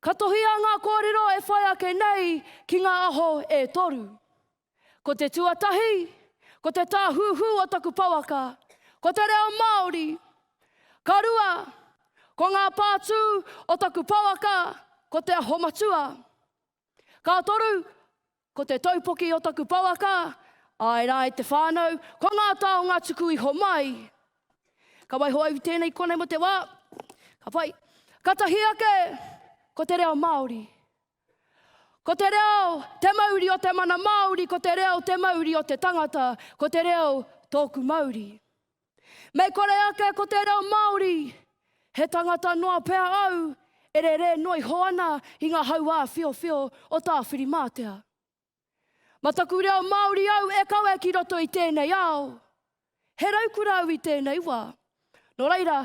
Ka tohia ngā kōrero e whai ake nei ki ngā aho e toru. Ko te tuatahi, ko te tāhuhu o taku pouaka, ko te reo Māori. Ka rua, ko ngā pātū o taku pouaka, ko te aho matua. Ka toru, ko te taupoki o taku pouaka, āe rā e te whānau, ko ngā taonga tuku iho mai. Ka waiho au i tēnei konei mo te wā, ka whai, ka tahi ake, ko te reo Māori. Ko te reo, te mauri o te mana Māori, ko te reo, te mauri o te tangata, ko te reo, tōku mauri. Mei kore ake ko te reo Māori, he tangata noa pea au e rere noa iho ana i ngā hauā whiowhio o Tāwhirimātea. Ma taku reo Māori au e kawe ki roto i tēnei ao. He raukura au i tēnei wā. Nō reira,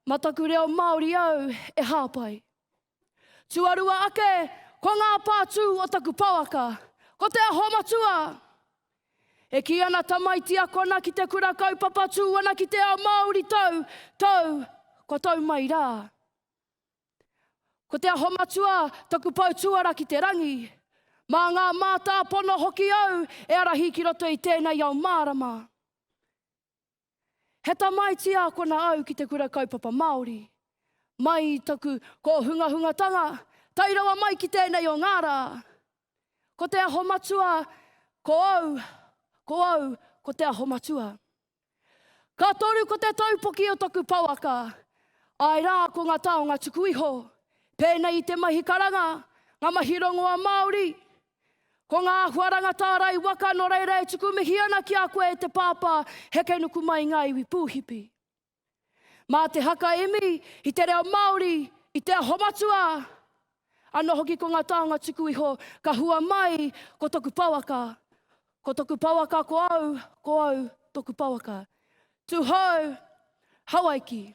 ma taku reo Māori au e hāpai. Tuarua ake, ko ngā pātū o taku pouaka, ko te aho matua! E kī ana tamaiti akona ki te kura kaupapa tū ana ki te ao Māori tau, tau, kua tau mai rā. Ko te aho matua taku pou tuara ki te rangi. Mā ngā mātāpono hoki au e arahi ki roto i tēnei ao mārama. He tamaiti ākona au ki te Kura Kaupapa Māori. Mai i taku kōhungahungatanga, tae rawa mai ki tēnei o ngā rā. Ko Te Aho Matua, ko au, ko au, ko Te Aho Matua. Ka toru ko te taupoki o taku pouaka, āe rā ko ngā taonga tuku iho, pēnei i te mahi karanga, ngā mahi rongoa Māori, Ko ngā huaranga tārai waka nō reira e tuku mihi ana ki a koe e te Pāpā heke nuku mai i ngā iwi pūhipi. Mā te haka imi i te reo Māori, i Te Aho Matua, anō hoki ko ngā taonga tuku iho ka hua mai ko toku pouaka, ko toku pouaka ko au, ko au toku pouaka. Tu hou, Hawaiki!